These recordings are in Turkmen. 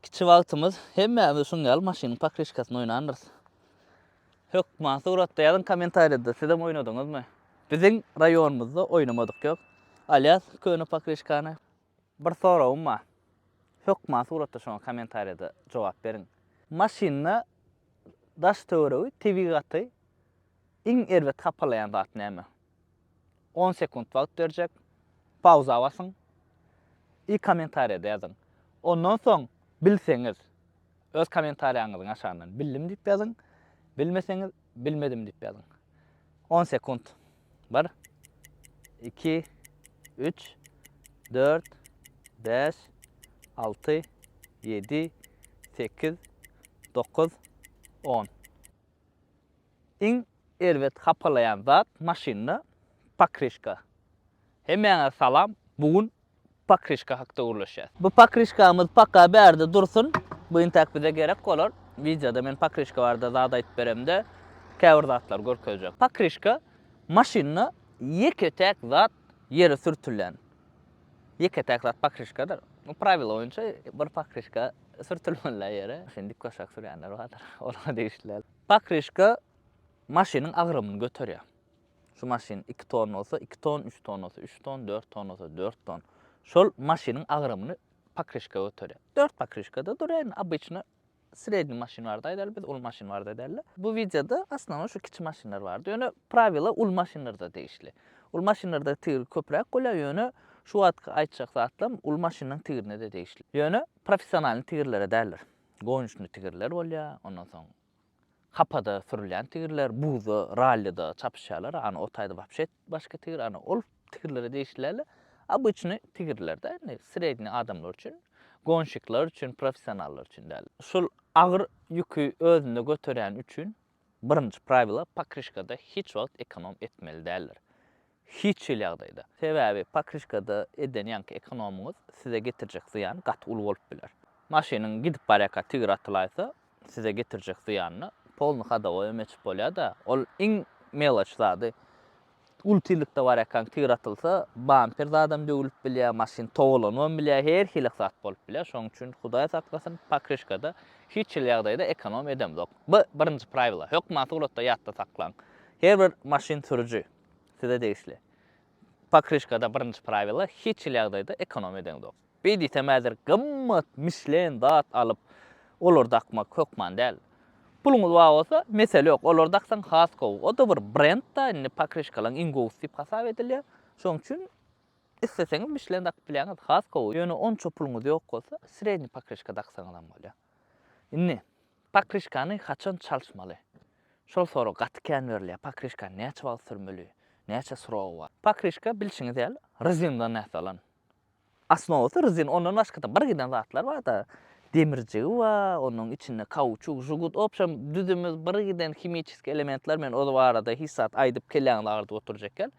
Kiçi wagtymyz hemmämiz şuň ýaly maşynyň pokrişkasyny oýnandyrys. Hökman suratda ýazyň kommentariýada sizem oýnadyňyzmy? Biziň raýonymyzda oýnamadyk ýok. Alýas köne pokrişkany. Bir soragym bar. Hökman suratda şoňa kommentariýada jogap beriň. Maşynda daş töweregi, tebigaty iň erbet hapalaýan zat näme? On sekunt wagt berjek. Pauza basyň. I kommentariýada ýazyň. Ondan soň bilseňiz, öz kommentariýaňyzyň aşagyndan bildim diýip ýazyň. Bilmeseňiz, bilmedim diýip ýazyň. On sekunt. Bir, iki, üç, dört, bäş, alty, ýedi, sekiz, dokuz, on. Iň erbet hapalaýan zat maşynda pokryşka. Hemmäňize salam, bu gün pokryşka hakda gürleşýäs. Bu pokryşkamyz paka bärde dursun, bu intäk bize gerek bolar. Wideoda men pokryşka barada zat aýdyp beremde käbir zatlary görkezjek. Pokryşka maşynda ýeke täk zat ýere sürtülen ýeke täk zat pokryşkadyr. Bu prawila boýunça bir pokryşka sürtülmeli ýere. Şeýle dikbaşak sürýänler bardyr, olara degişli däl. Pakryşka maşynyň agramyny göterýär. Şu maşyn iki ton bolsa, iki ton, üç ton bolsa, üç ton, dört ton bolsa, dört ton. Şol maşynyň agramyny pakryşka göterýär. Dört pakryşka-da durýar. Indi obyçny sredniý maşyn barada aýdaly biz, uly maşyn barada däl-de. Bu wideoda asnownam şu kiçi maşynlar bardy. Ýöne prawila uly maşynlarda degişli. Uly maşynlarda tigirlik köpräk bolýar, ýöne şu wagtky aýtjak zatlam uly maşynyň tigirine-de degişli. Ýöne professionalnyý tigirlere däldir. Gonçny tigirler bolýar, ondan soň hapada sürülýän tigirler, buzda, rallida çapyşýarlar, ana o taýda wapşe başga tigir, ana ol tigirlere degişliler-le. Obyçnyý tigirler-de, indi srednýi adamlar üçin, gonşikler üçin, professionallar üçin däl. Şol agyr ýüki özünde göterýäni üçin Birinji prawila, pokrişkada hiç wagt ekonom etmeli däldir. Hiç hili ýagdaýda. Sebäbi pokrişkada eden ýaňky ekonomyňyz size getirjek zyýany gaty uly bolup biler. Maşynyň gidip barýarka tigir atylaýsa, size getirjek zyýanyny polny hadowoýam eçip bolýar-da, ol iň meloç zady Uly tizlikde barýarkaň tigir atylsa, bamper zadam döwülip bilýär, maşyn towalanypam bilýär, her hili zat bolup bilýär. Şonuň üçin Hudaý saklasyn, pokryşkada hiç hili ýagdaýda ekonom edemzok. Bu birinji prawila. Hökman suratda ýatda saklaň. Her bir maşyn sürüji, size degişli. Pokryşkada birinji prawila, hiç hili ýagdaýda ekonom edeňzok. Beý diýsem häzir gymmat Michelin zat alyp olary dakmak hökman däl. Puluňyz bar bolsa mesele ýok olary daksaň has gowy. O-da bir brend da indi pokryşkalaň iň gowusy diýip hasap edilýär. Şoň üçin isleseňiz Michelin dakyp bilýäňiz has gowy. Ýöne onça puluňyz ýok bolsa sredniý pokryşka daksaňyzam bolýar. Indi pokryşkany haçan çalyşmaly? Şol sorag gaty kän berilýär. Pokryşkany näçe wagt sürmeli? Näçe srogy bar? Pokryşka bilşiňiz ýaly rezindan näsalan Osnowasy rezin, ondan başga-da bir giden zatlar bar-da, demirjigi bar, onuň içinde kauçuk, žugut, obşem düzümiz bir giden himiçeskiý elementler, men ol barada hiç zat aýdyp kelläňizi agyrydyp oturjak däl.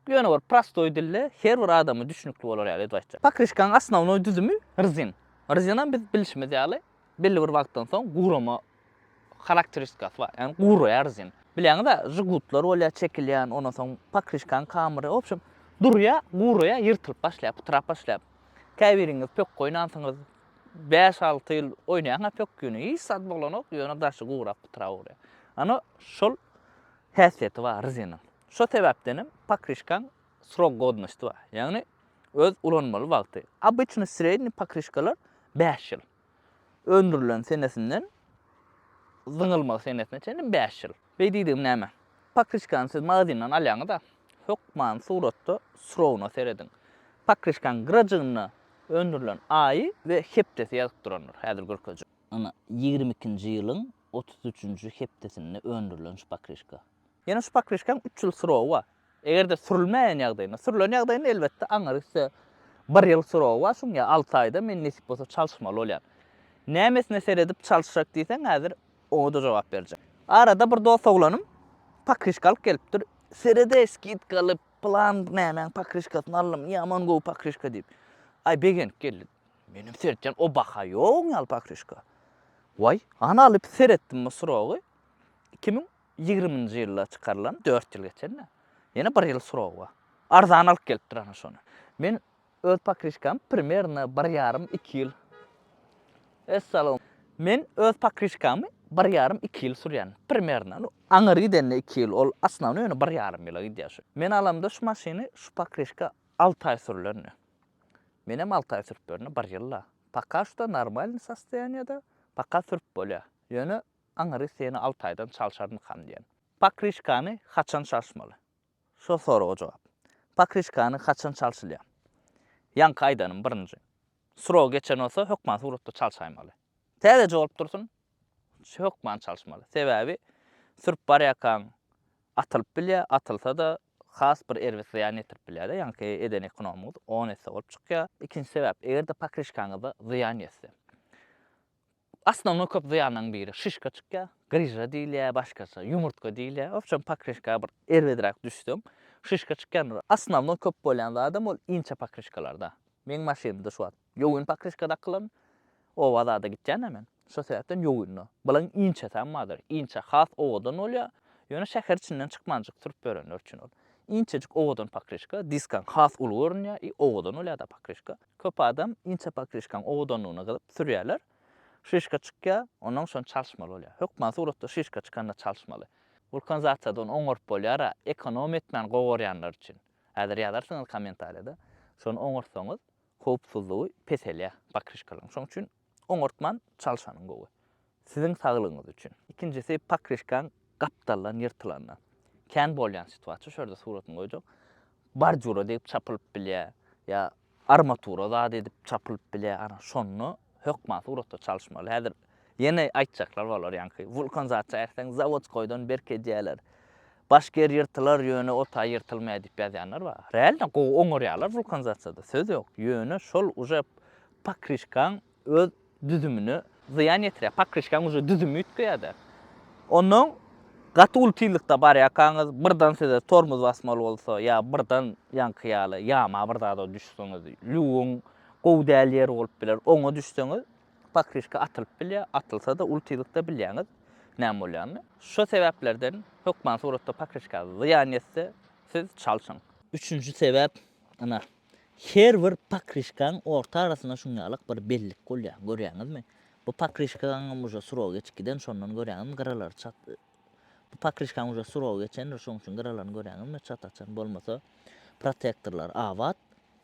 Ýöne bir prostoý dilde her bir adama düşnükli bolar ýaly edip aýtjak. Pokryşkanyň osnownoý düzümi rezin. Rezinam biz bilşimiz ýaly belli bir wagtdan soň gurama Harakteristikasy bar, ýagny guraýar rezin. Bilýäňiz-ä, žigutlar bolýar çekilýän, ondan soň pokrişkany kamyry, w obşem, durýar, guraýar, ýyrtylyp başlaýar, pytrap başlaýar. Käbiriňiz pökgi oýnansyňyz, bäş-alty ýyl oýnaýaň-a pökgini, hiç zat bolanok, ýöne daşy gurap pytrap urýar. Ana, şol häsiýeti bar reziniň. Şo sebäpdenem pokrişkaň srok godnosty bar, ýagny öz ulanmaly wagty. Obyçnyý, sredniý pokrişkalar bäş ýyl. öndürilen senesinden zyňylma senesine çenli bäş ýyl. Beý diýdigim näme? Pokryçkany siz magazyndan alýaňyz-a, hökman suratda srogyna serediň. Pokryçkanyň gyrajygynda öndürilen aýy we hepdesi ýazyp durandyr, häzir görkezjek. Ynha, ýigrimi ikinji ýylyň otuz üçünji hepdesinde öndürilen şu pokryçka. Ýene şu pokryçkanyň üç ýyl srogy bar. Eger-de sürülmeýän ýagdaýynda, sürlen ýagdaýynda elbetde aňyr üste bir ýyl surogy bar, şuň ýa alty aýda men nesip bolsa çalyşmaly bolýan. Nämesine seredip çalyşjak diýseň häzir oňa-da jogap berjek. Arada bir dost oglanym pokryşka alyp gelipdir. Serede skidkaly pylan nämäň pokryşkasyny aldym, ýaman gowy pokryşka diýip. Aý begenip geldik. Menem seretýän o baha ýok oň ýaly pokryşka. Waý, hany alyp seretdim bu surogy. Iki müň Ýigriminji ýylda çykarylan, dört ýyl geçen-de. Ýene bir ýyl surog bar. Arzan alyp gelipdir ana şony. Men öz pokryjkamy primerno bir ýarym, iki ýyl. Essalam. Men öz pokryjkamy bir ýarym, iki ýyl sürýän. Primerno. Nu, aňyr gidende iki ýyl. Ol osnownyý ony bir ýarym ýyla gidýär şu. Men alamda şu maşyny şu pokryjka alty aý sürülendi. Menem alty aý sürüp gördüm-de, bir ýyl-la. Poka şuda normalny sostoýaniýede, poka sürüp bolýar. Ýöne Aňry seni alty aýdan çalşarmykam diýen. Pokryçkany haçan çalşmaly? Şo soraga jogap. Pokryçkany haçan çalşylýar? Ýaňky aýdanym birinji. Srogy geçen bolsa hökman suratda çalşaýmaly. Täzeje bolup dursun, hökman çalşmaly. Sebäbi sürüp barýarkaň atylyp bilýär, atylsa-da has bir erbet zyýan ýetirip bilýär-de, ýaňky eden ekonomyňyz on esse bolup çykýar. Ikinji sebäp, eger-de pokryçkaňyzda zyýan ýetse. Osnownyý köp zyýanlaryň biri şişka çykýar. Gryža diýilýär, başgaça ýumurtga diýilýär. Wobşem pokrişka bir erbedräk düşseň şişka çykýar. Osnownyý köp bolýan zadam ol inçe pokrişkalarda. Meň maşynymda şu wagt ýowyn pokrişka dakylan. Oba zada gitýän-ä men. Şo sebäpden ýowynda. Bularyň inçesem bardyr. Inçe has owadan bolýar. Ýöne şäher içinden çykmanjyk sürüp ýörenler üçin ol. Inçejik owadan pokrişka. Diskaň has uly görünýär i owadan bolýar-da pokrişka. Köp adam inçe pokryşkaň owadanlygyna gyzyp, sürýärler. Şişka çykýar, ondan soň çalyşmaly bolýar. Hökman suratda şişka çykanda çalyşmaly. Wulkanizasiýada ony oňaryp bolýar-a, ekonomiýa etmän gowarýanlar üçin. Häzir ýazarsyňyz kommentariýada, şony oňartsaňyz howpsuzlygy peselýär pokryşkalaryň. Şonuň üçin Oňartman çalşanyň gowy. Siziň saglygyňyz üçin. Ikinjisi pokrişkaň gapdaldan ýyrtylanda. Kän bolýan situasiýa şu ýerde suratyny goýjak. Bordura degip çapylyp bilýä ýa armatura zat edip çapylyp bilýä ana şonda hökman suratda çalyşmaly. Häzir ýene aýtjaklar bolar ýaňky wulkan zat çäýrseň zawodskoýdan berk edýäler. Başga ýer ýyrtylar ýöne o taý ýyrtylmaýar diýip ýazýanlar bar. Realno gowy oňarýarlar wulkanizasiýada söz ýok. Ýöne şol uje pokryşkaň öz düzümine zyýan ýetirýär. Pokryşkaň uje düzümi üýtgeýärde. Onnoň gaty uly tizlikde barýarkaňyz birden size tormuz basmaly bolsa ýa birden ýaňky ýaly ýama bir zada düşseňiz, lýugyň gowy däl ýeri bolup biler, oňa düşseňiz Pokryşka atylyp bilýär, atylsa-da uly tyzlykda bilýäňiz näme bolýanyny. Şo sebäplerden hökman suratda pokryşka zyýan ýetse, siz çalşyň. Üçünji sebäp, ynha, her bir pokryşkaň orta arasynda şuňňalak bir bellik bolýar, görýäňizmi? Bu pokryşkaňam uje srogy geçip giden, şondan görýäňizmi gyralary çat, bu pokryşkaň uje srogy geçendir, şonuň üçin gyralaryny görýäňizmi çat açan, bolmasa protektorlary abat.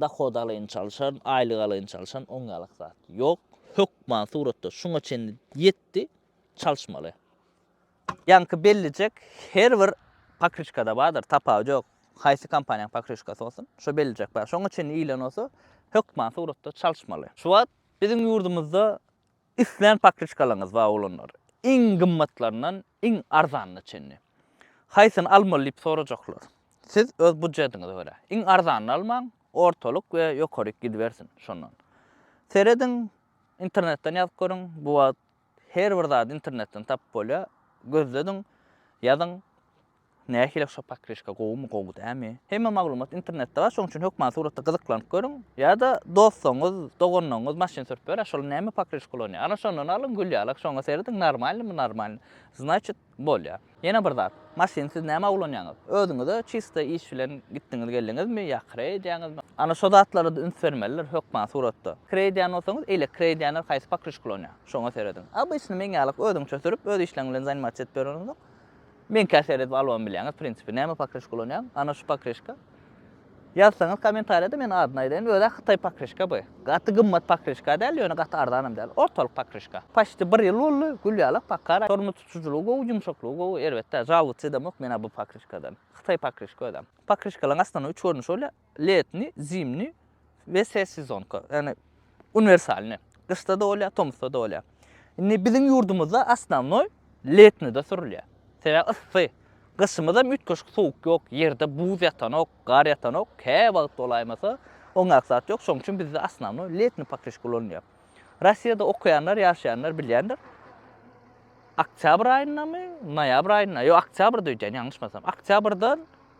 Dohod alaýyn çalşan, aýlyk alaýyn çalşan oň ýalak zat ýok. Hökman suratda şuňa çenli ýetdi, çalşmaly. Ýaňky bellijek her bir pokryçkada bardyr, tapawudy ýok. Haýsy kompaniýaň pokryçkasy bolsun, şo bellijek bar. Şoňa çenli iýlen bolsa, hökman suratda çalşmaly. Şu wagt biziň ýurdumyzda Islän pokryçkalaryňyz bar oglanlar. Iň gymmatlaryndan iň arzanyna çenli. Haýsyny almaly diýip sorajaklar. Siz öz budjetiňize görä. Iň arzanyny almaň, ortalyk we ýokaryk gidibersin şondan. Serediň, internetden ýazyp görüň, bu wagt her bir zady internetden tapyp bolýar. Gözlediň, ýazyň. Nähili şo pokryşka gowumy gowy dämi. Hemme maglumat internetde bar şoň üçin hökman surata gyzyklanyp görüň ýada dostaňyz doganlaňyz maşyn sürüp ýör a şolar näme pokryşka ulanýar ana şondan alyň gül ýalak şoňa serediň normalnymy normalny znaçit bolýar. Ýene bir zat maşyny siz nämä ulanýaňyz özüňize çysto iş bilen gitdiňiz geldiňizmi ýa kira edýäňizmi ana şo zatlarada üns bermeliler hökman suratda kira edýän bolsaňyz eýle kira edýänler haýsy pokryşka ulanýar şoňa serediň obyçny meň ýalak özüňçe sürüp öz işleň bilen zanimats edip ýören adam Meňkä seredip alman bilýäňiz prinsipi näme pokryşka ulanýan ana şu pokryşka ýazsaňyz komentarýada men adyny aýdaýyn özä hytaý pokryşka by gaty gymmat pokryşka däl ýöne gaty arzanam däl ortalyk pokryşka paçti bir ýyl boldy gül ýalak pakara tormoz tutujylygy gowy ýumşaklygy gowy erbet däl žalowatsyýdamok menä bu pokryşkadan hytaý pokryşka özem pokryşkalaň aslynda üç görnüşi bolýar. Letni, zimni we se sezonka. Ýagny uniwersalny. Gyşda-da bolýar, tomusda-da bolýar. Indi biziň ýurdumyzda asnawnoý letnide sürülýär. Sebäbi yssy. Gyşymyz hem üýtgeşik sowuk ýok. Ýerde buz ýatanok, gar ýatanok. Käwagt bolaýmasa, oňňak zat ýok. Şonuň üçin bizde asnawnoý letni pokryşka ulanylýar. Rossiýada okaýanlar, ýaşaýanlar bilýändir. Oktýabr aýyndamy, noýabr aýynda, ýok, oktýabrda öýdýän, ýalňyşmasam. Oktýabrdan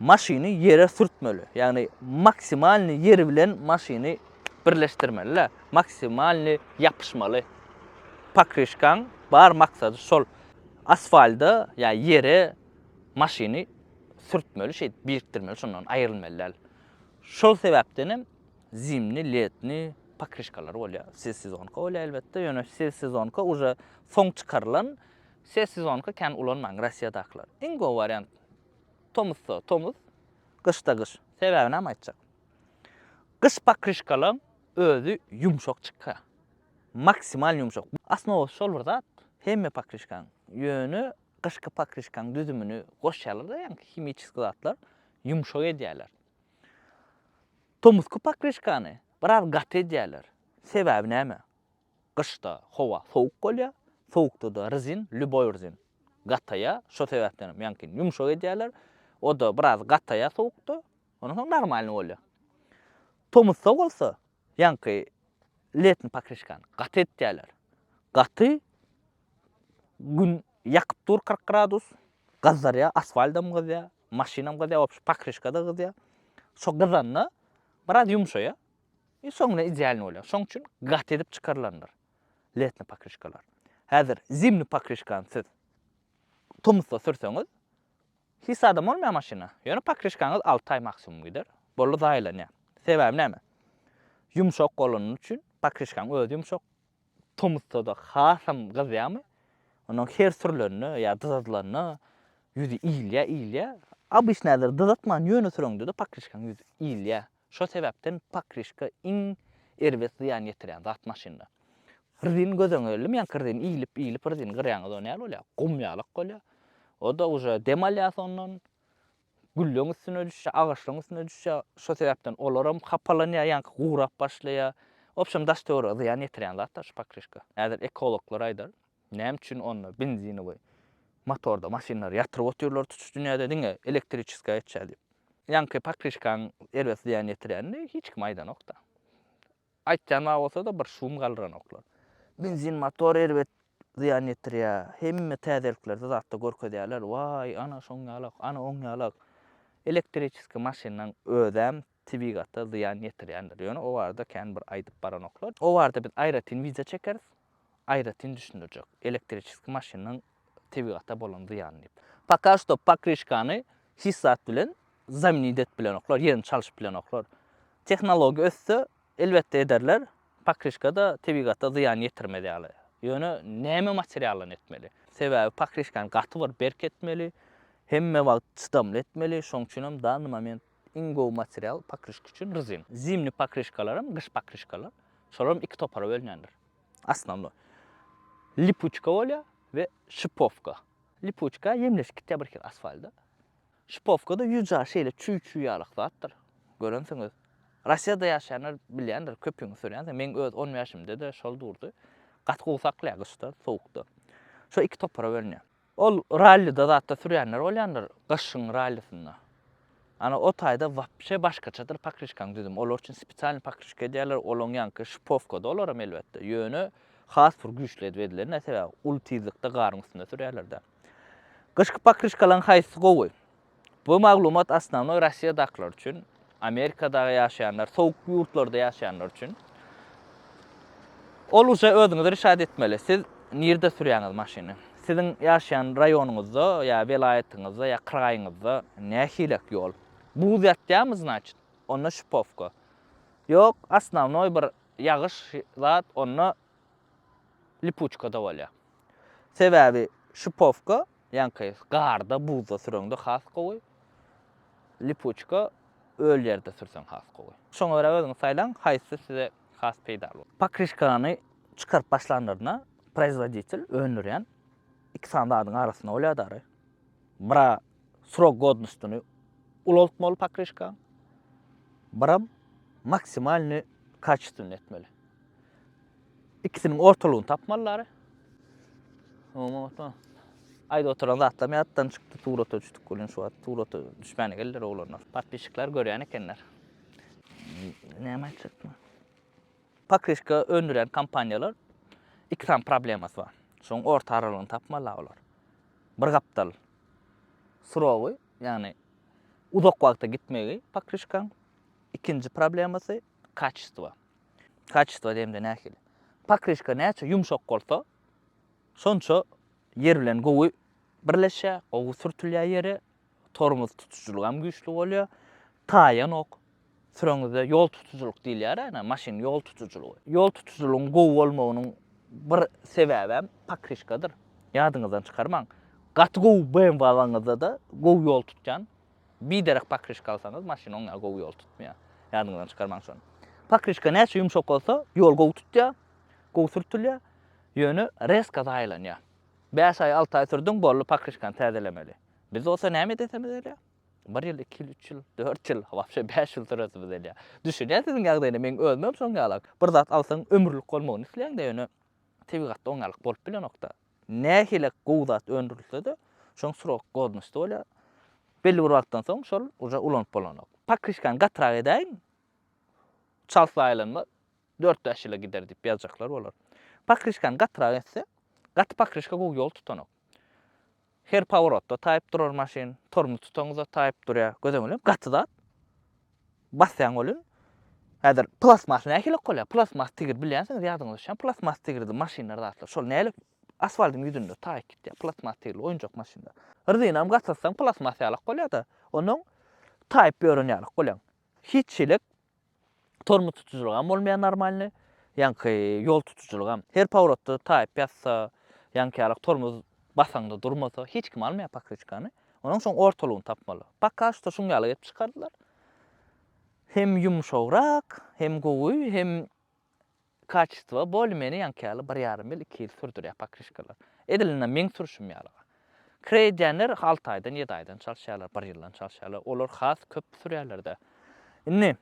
maşyny ýere sürtmeli. Ýagny maksimalny ýer bilen maşyny birleşdirmeli-de. Maksimalny ýapyşmaly. Pokrişkaň bar maksady şol. Asfalda ýa ýere maşyny sürtmeli şeýdip birikdirmeli şondan aýrylmaly däl. Şol sebäpdenem zimni, letni pokrişkalar bolýar. Sesizonka bolýar elbetde, ýöne sesizonka uje soň çykarylan sesizonka kän ulanmaň Rossiýadakylar. Iň gowy wariant Tomusda tomus, gyşda gyş. Sebäbi näme aýtjak? Gyş pokryşkalaň özi ýumşak çykýa. Maksimal ýumşak. Osnowasy şol bir zat hemme pokryşkaň. Ýöne gyşky pokryşkaň düzümini goşýarlar-da ýaňky himiçeski zatlar ýumşak edýärler. Tomusky pokryşkany biraz gaty edýärler. Sebäbi näme? Gyşda howa sowuk bolýar, sowukda-da rzin, lýuboý rzin, gataýar, şo sebäpdenem ýaňky ýumşak edýärler, o-da biraz gataýar sowukda, ondan soň normalny bolýar. Tomusda bolsa ýaňky letni pokryşkany gaty etýärler, gaty Gün ýakyp dur kyrk gradus, gyzarýar, asfaltam gyzýar, maşynam gyzýar, wobşem pokryşka-da gyzýar, şo gyzanda biraz ýumşaýar, I soňuna idealny bolýar. Şoň üçin gaty edip çykarylandyr letny pokryşkalar. Häzir zimny pokryşkany siz tomusda sürseňiz, his adam bolmaýar maşyna. Ýöne pokryşkaňyz alty aý maksimum gider. Boldy zaýalanýar. Sebäbi näme? Ýumşak bolany üçin pokryşkaň özi ýumşak. Tomusda-da hasam gyzýarmy, ondan her sürlende ýa dyzadylanda ýüzi ilýär, ilýär. Obyçny häzir dyzatman ýöne süreňde-de pokryşkaň ýüzi ilýär. Şo sebäpden pokrişka iň erbet zyýan ýetirýän zat maşynda. Rzin göz öňe elmänkä rzin iýlip iýlip rzin gyrýaňyz o näl bolýar gum ýalak bolýar. Oda uje dem alýas ondan. Gülleň üstüne düşýä agaçlaň üstüne düşýä şo sebäpden olaram hapalanýa ýaňky gurap başlaýa. Wobşem daş töwerege zyýan ýetirýän zatda şu pokrişka. Häzir ekologlar aýdar. Näme üçin onda benzini we motorda maşynlary ýatyryp otyrlar tutuş dünýäde diňe elektriçeskaý etjä diýip. Ýaňky pakrişkaň erbet zyýan ýetirýänini hiç kim aýdanokda. Aýtýan bar bolsada bir şum galdyranoklar. Benzin motor erbet zyýan ýetirýä, hemme täzeliklerde zatda görkezýäler, waý ana şoň ýalak, ana oň ýalak. Elektriçeski maşynlaň özäm tebigata zyýan ýetirýändir. Ýöne o barada kän bir aýdyp baranoklar. O barada biz aýratyn wideo çekeris, aýratyn düşündirjek, elektriçeskiý maşynyň tebigata bolan zyýany diýip. Poka şto pokryşkany hiç zat bilen zamenit edip bilenoklar, ýerini çalyşyp bilenoklar. Tehnologiýa össe, elbetde ederler, pokryşka-da tebigata zyýan ýetirmez ýaly. Ýöne näme materialdan etmeli? Sebäbi pokryşkany gaty bir berk etmeli, hemme wagt çydamly etmeli, şoň üçinem dany moment Iň gowy material pokryşka üçin rezin. Zimny pokryşkalar hem gyş pokryşkalar. Şolar hem iki topara bölünendir. Osnovnoý. Lipuçka bolýar we şipowka. Lipuçka ýemleşik gitýär bir hil asfalda. Şipowkada ýüz jar şeýle çüý-çüý ýalak zatdyr. Görensiňiz. Rossiýada ýaşaýanlar bilýändir, köpüňiz sürýänsiňiz. Meň öz on bäşimde-de şol durdy. Gaty gowy saklaýar gyşda, sowukda. Şo iki topara bölünýär. Ol rallida zatda sürýänler bolýandyr, gyşyň rallisinde. Ana o taýda wapşe başgaçadyr pokryşkaň düzümi. Olar üçin spesialnyý pokryşka edýärler, olaň ýaňky şipowkada olaram elbetde. Ýöne has bir güýçli edip edilendir, sebäbi uly tizlikde garyň üstünde sürýärler-de. Gyşky pokryşkalaň haýsysy gowy? Bu maglumat osnownoý Rossiýadakylar üçin, Amerikadaga ýaşaýanlar, sowuk ýurtlarda ýaşaýanlar üçin. Ol uje özüňiz rişat etmeli, siz nirde sürýäňiz maşyny? Siziň ýaşaýan raýonyňyzda ýa welaýatyňyzda ýa kraýyňyzda nähilek ýol? Buz ýatýamy znaçit? Onda şipowka. Ýok, osnownoý bir ýagyş zat, onda lipuçkada bolýar. Sebäbi şipowka Ýaňky garda, buzda süreňde has gowy. Lipuçka öl ýerde sürseň has gowy. Şoňa görä özüňiz saýlaň, haýsy size has peýdaly bolar. Pokryşkany çykaryp başlanlarynda proizwoditel, öndürýän, iki sany zadyň arasynda bolýar dary. Bira srok godnostyny ulaltmaly pokryşkaň, biram maksimalnyý kaçestwini etmeli. Ikisiniň ortalygyny tapmalydary. Oňa Aýda oturan zatlam ýatdan çykdy, surata düşdük welin şu wagt surata düşmäne geldiler oglanlar. Podpisçikler görýän ekenler. Näme aýtjakdym? Pokrişka öndürýän kompaniýalar iki sany problemasy bar. Şoň orta aralygyny tapmaly olar. Bir gapdal surowy, ýagny uzak wagta gitmegi pokrişkaň ikinji problemasy Kaçestwo. Kaçestwo demde nähili? Pokryşka näçe ýumşak bolsa, şonça ýer bilen gowy birleşýär, gowy sürtülýär ýere, tormoz tutujylygam güýçli bolýar, taýanok. Süreňizde ýol tutujylyk diýilýär-ä ine, maşyn ýol tutujylygy. Ýol tutujylygyň gowy bolmagynyň bir sebäbem pokryşkadyr. Ýadyňyzdan çykarmaň. Gaty gowy BMW alaňyzda-da gowy ýol tutýan. Biderek pokryşka alsaňyz, maşyn oňa gowy ýol tutmaýar. Ýadyňyzdan çykarmaň şony. Pokryşka näçe ýumşak bolsa, ýol gowy tutýar, gowy sürtülýär, ýöne rezka zaýalanýar. Bäş aý, alty aý sürdüň, boldy, pokryşkany täzelemeli. Biz bolsa näme edesem edeliä? Bir ýyl, iki ýyl, üç ýyl, dört ýyl, wapşe bäş ýyl süresimiz gelýär. Düşünýän siziň ýagdaýyna, meň özümem şoň ýalak. Bir zat alsaň, ömürlik bolmagyny isleýäň-de, ýöne tebigatda oňalyk bolup bilenok-da. Nähili gowy zat öndürilse-de, şoň srok godnosty bolýar. Belli bir wagtdan soň şol uje ulanyp bolanok. Pokryşkany gatyrak edäýiň, çaltly aýlanma dört-bäş ýyla gider diýip ýazjaklar bolar. Pokryşkany gatyrak etse, gaty pokryşka gowy ýol tutanok. Her powrotda taýyp durar maşyn, tormoz tutaňyzda taýyp durýar. Göz öňüne gaty zat. Basýaň welin, häzir plastmas nähili bolýar? Plastmas tigir bilýänsiňiz, ýadyňyza düşýär. Plastmas tigirdi maşynlar zatlar. Şol nälik asfaltyň ýüzünde taýyk gitýär. Plastmas tigirli oýunjak maşynlar. Rzinam gatlatsaň plastmas ýalak bolýar-da, ondan taýyp ýören ýalak bolýaň. Hiç şeýlek tormoz tutujylygam bolmaýar normalny, ýaňky ýol tutujylygam. Her powrotda taýyp ýatsa, ýaňky ýalak tormoz basaňda durmasa, hiç kim almaýar pokrýuçkany. Onuň üçin ortalygyny tapmaly. Poka şto şuň ýaly gelip çykardylar. Hem ýumşagrak, hem gowy, hem kaçestwo bolye meni ýaňky ýaly bir ýarym ýyl, iki ýyl sürdürýär pokryşkalar. Edil indi meň sürüşim ýaly. Kre edýänler alty aýdan, ýedi aýdan çalyşýarlar, bir ýyldan çalyşýarlar. Olar has köp sürýärler-de. Indi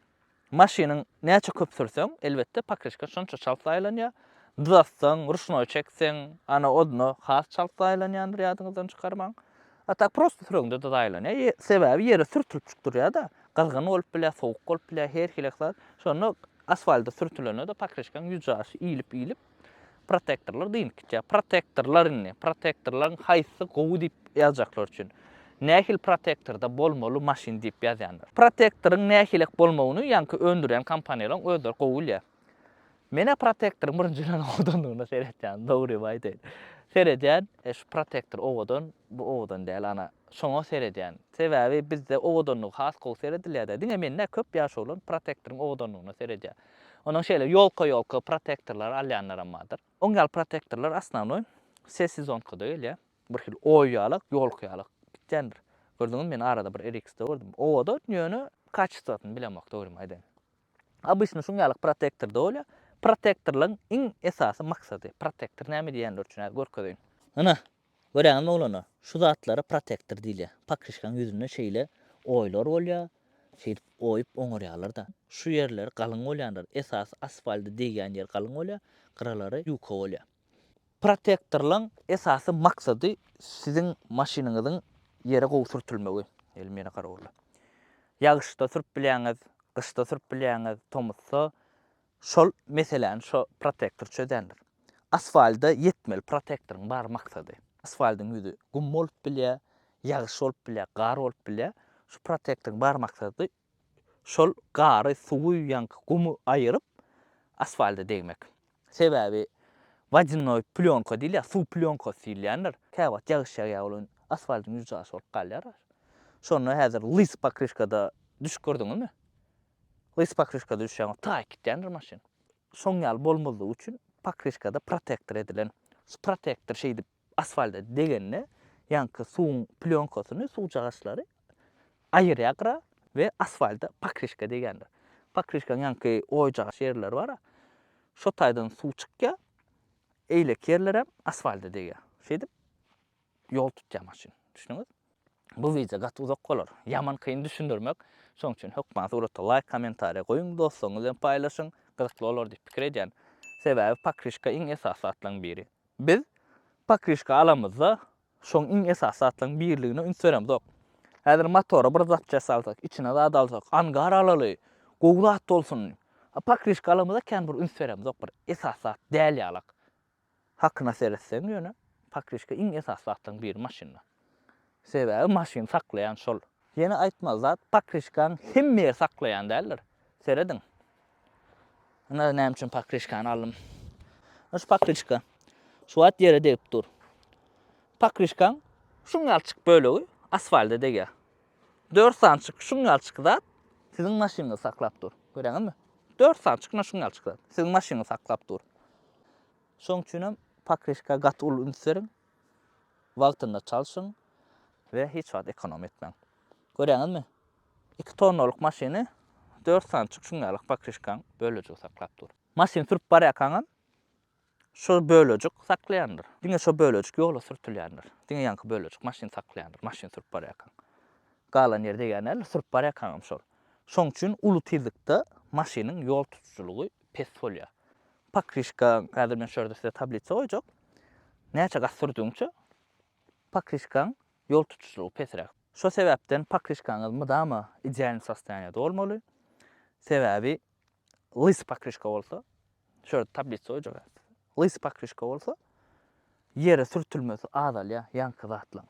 Maşynyň näçe köp sürseň, elbetde, pokryşka şonça çalt zaýalanýar. Dyzatsaň, ruşnoý çekseň, ana odna has çalt zaýalanýandyr, ýadyňyzdan çykarmaň. A tak prosta süreňde-de zaýalanýar. Ýe, sebäbi ýere sürtülipjik durýar-da. Gyzgyn bolup bilýär, sowuk bolup bilýär, her hili zat. Şonda asfalda sürtülende-de pokryşkaň ýüzjaýşy iýlip-iýlip, Protektorlar diýilip gitýär. Protektorlar indi, protektorlaryň haýsy gowy diýip ýazjaklar üçin. Nähili protektorda bolmaly maşyn diýip ýazýanlar. Protektoryň nähilek bolmagyny ýaňky öndürýän kompaniýalaryň özleri gowy bilýär. Men-ä protektoryň birinji bilen owadandygyna seretýän, dogrymy aýdaýyn. Seredýän, e, şu protektor owadan, bu owadan däl, ana, şoňa seredýän. Sebäbi bizde owadanlygy has gowy seredilýär-dä. Diňe men däl, köp ýaşulular protektoryň owadanlygyna seredýär. Onuň şeýle ýolka-ýolka protektorlar alýanlaram bardyr. Oň ýaly protektorlar osnownoý sesizonka-da gelýär. Bir hili oý ýalak, ýolka ýalak gitýändir. Gördüňizmi, men arada bir RX-de gördüm. Oba-da, ýöne kaçestwasyny bilemok, dogrymy aýdaýyn. Obysnyý şuň ýalak protektorda bolýar. Protektorlaryň iň esasy maksady, protektor näme diýýänler üçin häzir görkezeýin. Ynha, Göräňizmi oglana, şu zatlara protektor diýilýär. Pakryşkaň ýüzünde şeýle oýlar bolýar, şeýdip oýup oňarýarlar-da. Şu ýerleri galyň bolýandyr, esasy asfalda degýän ýer galyň bolýar, gyralary ýuka bolýar. Protektorlaryň esasy maksady siziň maşynyňyzyň ýere gowy sürtülmegi. Elimi ýene gara urla. Ýagyşda sürüp bilýäňiz, gyşda sürüp bilýäňiz, tomusda Şol meseläni şo protektor çözändir. Asfalda ýetmeli protektoryň bar maksady. Asfaldyň ýüzi gum bolup bilýär, ýagyş bolup bilýär, gar bolup bilýär. Şu protektoryň bar maksady şol gary, suwy, ýaňky gumy aýyryp, asfalda degmek. Sebäbi wodinoý plýonka diýilýär, suw plýonkasy diýilýändir. Käwagt ýagyş ýagýar welin, asfaldyň ýüzi jaş bolup galýar. Şonda häzir lysy pokryşkada düşüp gördüňizmi? Gysg pokryşkada düşýän taýyk gitýändir maşyn. Şoň ýaly bolmazlygy üçin pokryşkada protektor edilen. Şu protektor şeýdip asfalta degende ýaňky suwuň plýonkasyny, suw jagaçlary aýyrýar gyra we asfalta pokryşka degýändir. Pokryşkaň ýaňky oýjagaç ýerleri bar. Şo taýdan suw çykýar. Eýleki ýerler hem asfalta degýär. Şeýdip ýol tutýar maşyn. Düşdüňiz? Bu wideo gaty uzak bolar. Ýaman kyn düşündirmek. Şoň üçin hökman surata laýk kommentariýa goýuň dostlaryňyz bilen paýlaşyň. Gyzykly bolar diýip pikir edýän. Sebäbi pokryşka iň esasy zatlaryň biri. Biz pokryşka alamyzda şoň iň esasy zatlaryň birligine üns beremzok. Häzir motora bir zat jasalsak, içine zat alsak, angar alaly, gowy zat bolsun. A pokryşka alamyzda kän bir üns beremzok, bir esasy zat däl ýalak. Hakyna seretseň ýöne pakriçka iň esasy zatlaryň biri maşynda. Sebäbi maşyn saklaýan şol. Ýene aýtmaly zat pakriçkaň hemme ýeri saklaýan däldir. Serediň. Ynha näme üçin pakriçkany aldym. Ynha şu pakriçka şu wagt ýere degip dur. Pakriçkaň şuň ýalçyk bölegi asfalda degýär. Dört sançyk şuň ýalçyk zat siziň maşynyňyzy saklap dur. Göreňizmi? Dört sançyk mna şuň ýalçyk zat siziň maşynyňyzy saklap dur. Şoň üçin hem pokrişka gaty uly üns beriň, wagtynda çalşyň we hiç wagt ekonom etmäň. Göreňizmi? Iki tonnalyk maşyny dört sançyk şuň ýalyk pokrişkaň bölejigi saklap dur. Maşyn sürüp barýarkaňam Şo bölejik saklaýandyr. Diňe şo bölejik ýola sürtülýändir. Diňe ýaňky bölejik maşyn saklaýandyr. Maşyn sürüp barýarkaň. Galan ýer degýän däldir, sürüp barýarkaňam şol. Şoň üçin uly tizlikde maşynyň ýol tutujylygy pes bolýar. Pokryşka, häzir men şu ýerde size tablisa goýjak. Näçe gaty sürdügiňçe, pokryşkaň ýol tutujylygy pesräk. Şo sebäpden pokryşkaňyz mydama idealny sostoýaniýede bolmaly. Sebäbi Lysy pokryşka bolsa, şu ýerde tablisa goýjagaz. Lysy pokryşka bolsa, ýere sürtülmesi azalýar ýaňky zatlaryň.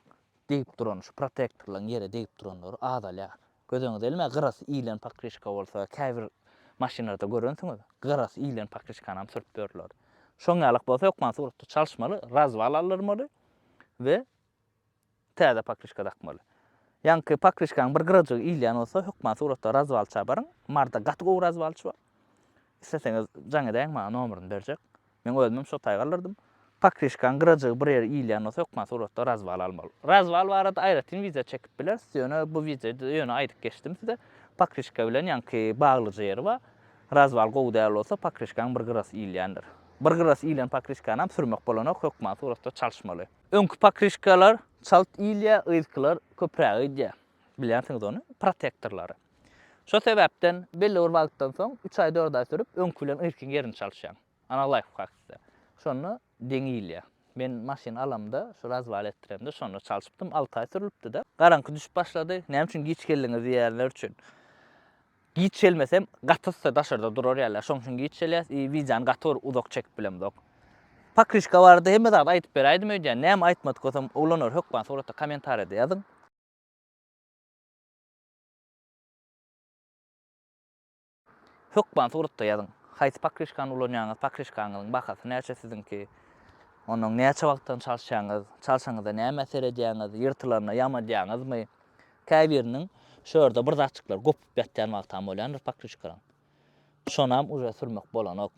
Degip duran şu protektorlaryň ýere degip duranlary azalýar. Gözüňize ilme gyrasy iýilen pokryşka bolsa, käbir maşynlarda görensiňiz, gyrasy iýilen pokryşkanam sürtüp ýörler. Şoň ýalak bolsa hökman suratda çalyşmaly, razwal aldyrmaly we Täze pokryşka dakmaly. Ýaňky pokryşkanyň bir gyrajygy ilýän bolsa, hökman suratda razwalçyja baryň. Marda gaty gowy razwalçy bar. Isleseňiz jaň edäýiň, maňa nomerini berjek. Meň özümem şo taý galdyrydym. Pokryşkanyň gyrajygy bir ýeri ilýän bolsa, hökman suratda razwal almaly. Razwal barada aýratyn wideo çekip bileris, ýöne bu wideoda ýöne aýdyp geçdim size. Pokryşka bilen ýaňky baglyja ýeri bar. Razwal gowy däl bolsa, pokryşkanyň bir gyrasy ilýändir. Bir gyrasy ilýän pokryşkanam sürmek bolanok, hökman suratda çalyşmaly. Öňki pokrişkalar çalt iýilýär, yzkylar köpräk iýilýär. Bilýänsiňiz ony, protektorlary. Şo sebäpden belli bir wagtdan soň, üç aý, dört aý sürüp, öňki bilen yzkyň ýerini çalyşýaň. Ana laýfhak size. Şonda deň iýilýär. Men maşyn alamda, şu razwal etdiremde şonda çalşypdym, alty aý sürlüpdi-de. Garaňky düşüp başlady. Näme üçin giç geldiňiz diýýänler üçin. Giç gelmesem, gaty-sy daşarda durar ýaly, şoň üçin giç gelýäs, i wideony gaty bir uzak çekip bilemzok. Pokrişka barada hemme zady aýdyp beräýdim öýdýän, näme aýtmadyk bolsam, oglanlar hökman suratda kommentariýada ýazyň. Hökman suratda ýazyň, haýsy pokrişkany ulanýaňyz, pokrişkaňyzyň bahasy näçe siziňki, onuň näçe wagtdan çalşýaňyz, çalşaňyzda nämä seredýäňiz, ýyrtylanda ýamadýaňyzmy, Käbiriniň şu ýerde bir zatjyklar gopup ýatýan wagtam bolýandyr poklýuçkalaryň. Şonam uje sürmek bolanok.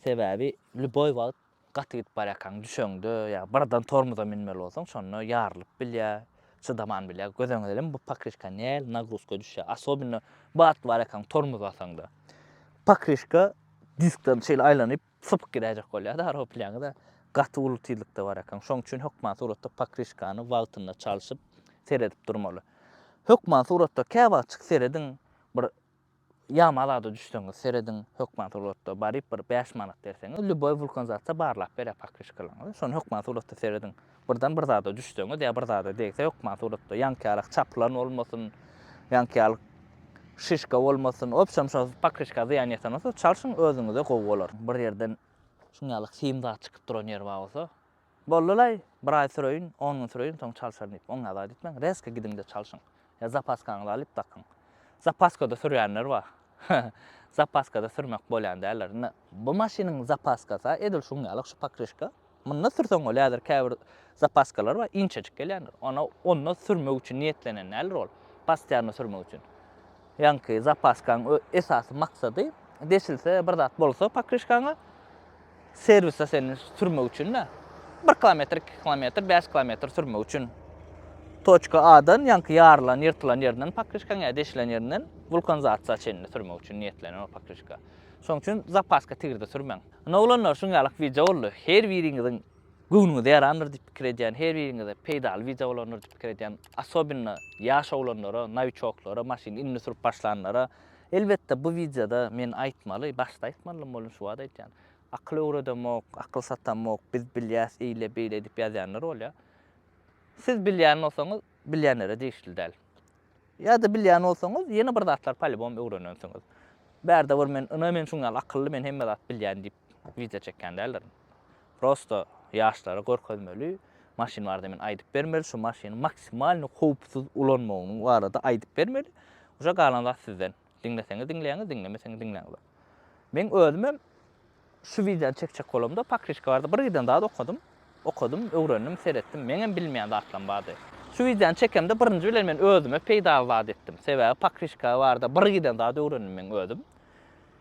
Sebäbi lýuboý wagt gaty gidip barýarkaň düşeňde ýa birden tormoza münmeli bolsaň şonda ýarylyp bilýär, çydaman bilýär. Göz öňüňe gelen bu poklýuçka nähili nagruzka düşýär. Asobynda bat barýarkaň tormoz basaňda. Poklýuçka diskden şeýle aýlanyp Sypyk gidäýjek bolýar-da araba plýaňy-da. Gaty uly tizlikde bar eken. Şoň üçin hökman suratda pokrişkany wagtynda çalşyp, seredip durmaly. Hökman suratda käwagtjyk serediň, bir ýama zada düşseňiz serediň, hökman suratda baryp bir bäş manat berseňiz, lýuboý wulkanizasiýa barlap berýär pokrişkalaryňyzy. Şony hökman suratda serediň. Birden bir zada düşseňiz ýa bir zada degse hökman suratda ýaňkyýalyk çaplan bolmasyn, ýaňkyýalyk şişka bolmasyn, wobşem şo pokryçka zyýan ýeten bolsa çalşyň özüňize gowy bolar. Bir ýerden şuň ýaly syn zat çykyp duran ýeri bar bolsa, boldylaý bir aý süreýin, on gün süreýin soň çalşaryn diýip oňa zat etmäň, rezko gidiňde çalşyň. Ýa zapaskaňyzy alyp dakyň. Zapaskada sürýänler bar. Zapaskada sürmek bolýan däldir. Indi bu maşynyň zapaskasy-a edil şuň ýaly şu pokrişka. Munda sürseň bolýar. Häzir käbir zapaskalar bar, inçejik gelýändir. Ony onda sürmek üçin niýetlenen däldir ol. Postoýanno sürmek üçin. Ýaňky zapaskaň esasy maksady, deşilse bir zat bolsa pokrişkaňa, Serwise sen sürmek üçin-de, bir kilometr, iki kilometr, bäş kilometr sürmek üçin toçka A-dan ýaňky ýarylan, ýyrtylan ýerinden pokrişkaň ýa deşilen ýerinden wulkanizasiýa çenli sürmek üçin niýetlenen ol pokrişka. Şoň üçin zapaska tigirde sürmäň. Ine oglanlar, şuň ýalyk wideo boldy. Her biriňiziň göwnüňize ýarandyr diýip pikir edýän, her biriňize peýdaly wideo bolandyr diýip pikir edýän. Asobinno ýaş oglanlara, nawiçoklara, maşyn indi sürüp başlanlara Elbetde bu wideoda men aýtmaly, başda aýtmalydym bolýan şu wagt aýtýan. Akyl öwredemok, akyl satamok, biz bilýäs eýle beýle edip ýazýanlar bolýa. Siz bilýän bolsaňyz bilýänlere degişli däl. Ýada bilýän bolsaňyz ýene bir zatlar polibom öwrenensiňiz. Bärde bir men ynha men şuň ýaly akylly men hemme zat bilýän diýip wideo çekýän däldirin. Prosta ýaşlara görkezmeli maşyn barada men aýdyp bermeli şu maşyny maksimalny howpsyz ulanmagynyň barada aýdyp bermeli uje galan zat sizden diňleseňiz diňleýäňiz diňlemeseňiz diňläňzok men özümem şu wideony çekjek bolamda pokryşka barada bir giden zat okadym okadym öwrendim seretdim meňem bilmeýän zatlam bardy şu wideony çekemde birinji bilen men özüme peýdaly zat etdim sebäbi pokryşka barada bir giden zat öwrendim men özüm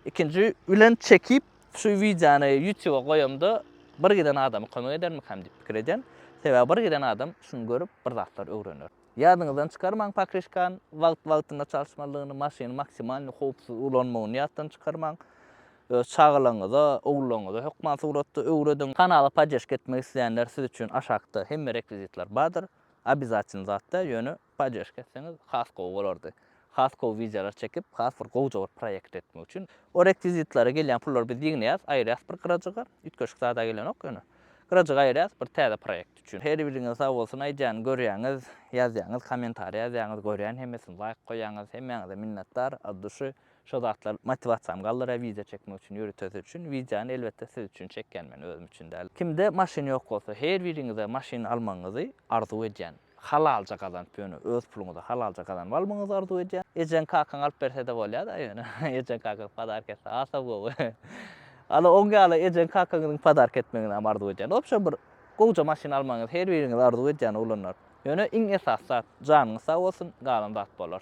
ikinji bilen çekip Şu wideony ýutube goýamda bir giden adama kömek edermikäm diýip pikir edýän. Sebäbi bir giden adam şuny görüp bir zatlar öwrener. Ýadyňyzdan çykarmaň pokrişkany wagt wagtynda çalyşmalydygyny, maşyny maksimalny howpsuz ulanmagyny ýatdan çykarmaň. Öz çagalaryňyza, ogullaryňyza hökman suratda öwrediň. Kanala poddeşka etmek isleýänler siz üçin aşakda hemme rekwizitler bardyr. Obýazatelny zat däl ýöne Padeş ketseňiz has gowy bolardy. Has gowy wideolar çekip, has bir gowja bir proýekt etmek üçin. O rekwizitlere gelýän pullary biz ýygnaýarys, aýyrýarys bir gyrajyga. Üýtgeşik zada gelenok ýöne. Gyrajygy aýyrýarys bir täze proýekt üçin. Her biriňize sag bolsun aýdýan, görýäňiz, ýazýaňyz, kommentariýa ýazýaňyz, görýän hemmesini laýk goýýaňyz. Hemmäňize minnetdar od duşy. Şo zatlar motiwasiýamy galdyrýar wideo çekmek üçin, ýöritesi üçin. Wideony elbetde siz üçin çekýän men, özüm üçin däl. Kimde maşyn ýok bolsa, her biriňize maşyn almagyňyzy arzuw edýän. Halalca gazanyp ýöne öz puluňyzy halalca gazanyp almagyňyzy arzuw edýän. Ejeň kakaň alyp bersede bolýada ýöne ejeň kakaň padarka etse hasam gowy. Ana oň ýaly ejeň kakaňyzyň padarka etmegini hem arzuw edýän. Obşem bir gowja maşyn almagyňyzy her biriňiz arzuw edýän oglanlar. Ýöne iň esasy zat janyňyz sag bolsun galan zat bolar.